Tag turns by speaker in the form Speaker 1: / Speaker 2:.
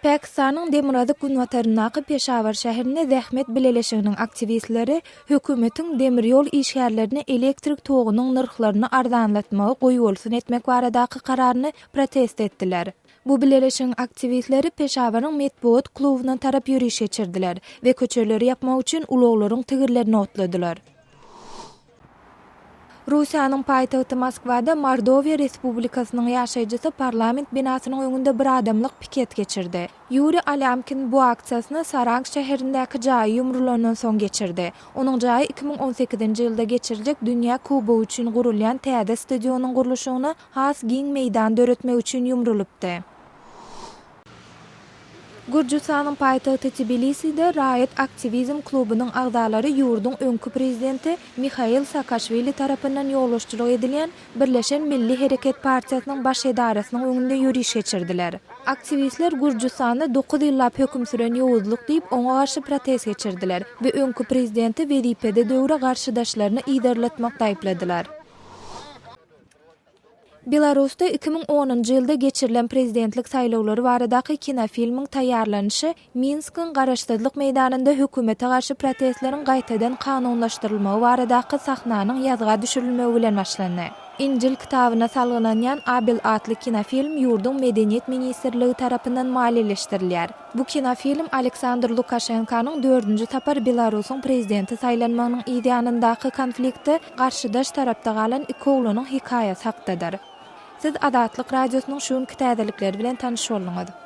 Speaker 1: Pakistanyň demirgazyk-günbataryndaky Peşawar şäherinde zähmet bileleşiginiň aktiwistleri hökümetiň demir ýol işgärlerine elektrik togunyň nyrhlaryny arzanlatmagy goýbolsun etmek baradaky kararyny protest etdiler. Bu bileleşigiň aktiwistleri Peşawaryň metbugat klubyna tarap ýöriş geçirdiler we köçeleri ýapmak üçin ulaglaryň tigirlerini otladylar. Russiýanyň paýtagty Moskwada Mordowiýa Respublikasynyň ýaşaýjysy parlament binasynyň öňünde bir adamlyk piket geçirdi. Ýuriý Alýamkin bu aksiýasyny Saransk şäherindäki jaýy ýumrulandan soň geçirdi. Onuň jaýy iki müň on sekizinji ýylda geçiriljek Dünýä Kubogy üçin gurulýan täze stadionyň gurluşygyna has giň meýdan döretmek üçin ýumrulypdy. Gürjüstanyň paýtagty Tbiliside raýat aktiwizm klubunyň agzalary ýurduň öňki prezidenti Mihail Saakaşwili tarapyndan ýolbaşçylyk edilýän Birleşen milli hereket partiýasynyň baş edarasynyň öňünde ýöriş geçirdiler. Aktiwistler Gürjüstanda dokuz ýyllap höküm süren ýowuzlyk diýip, oňa garşy protest geçirdiler we öňki prezidenti wezipede döwre garşydaşlaryny yzarlatmakda aýypladylar. Belarusda iki müň onunjy ýylda geçirilen prezidentlik saýlawlary baradaky kinofilmiň taýýarlanyşy Minskiň Garaşsyzlyk meýdanynda hökümete garşy protestleriň gaýtadan kanunlaşdyrylmagy baradaky sahnanyň ýazga düşürilmegi bilen başlandy. Injil kitabyna salgynanýan Abel atly kinofilm ýurduň Medeniýet ministrligi tarapyndan maliýeleşdirilýär. Bu kinofilm Aleksandr Lukaşenkanyň dördünji sapar Belarusyň prezidenti saýlanmagynyň yzýanyndaky konflikti Garşydaş tarapda galan iki oglanyň hekaýasy hakdadyr. Siz Azatlyk Radiosynyň şu günki täzelikleri bilen tanyş bolduňyz.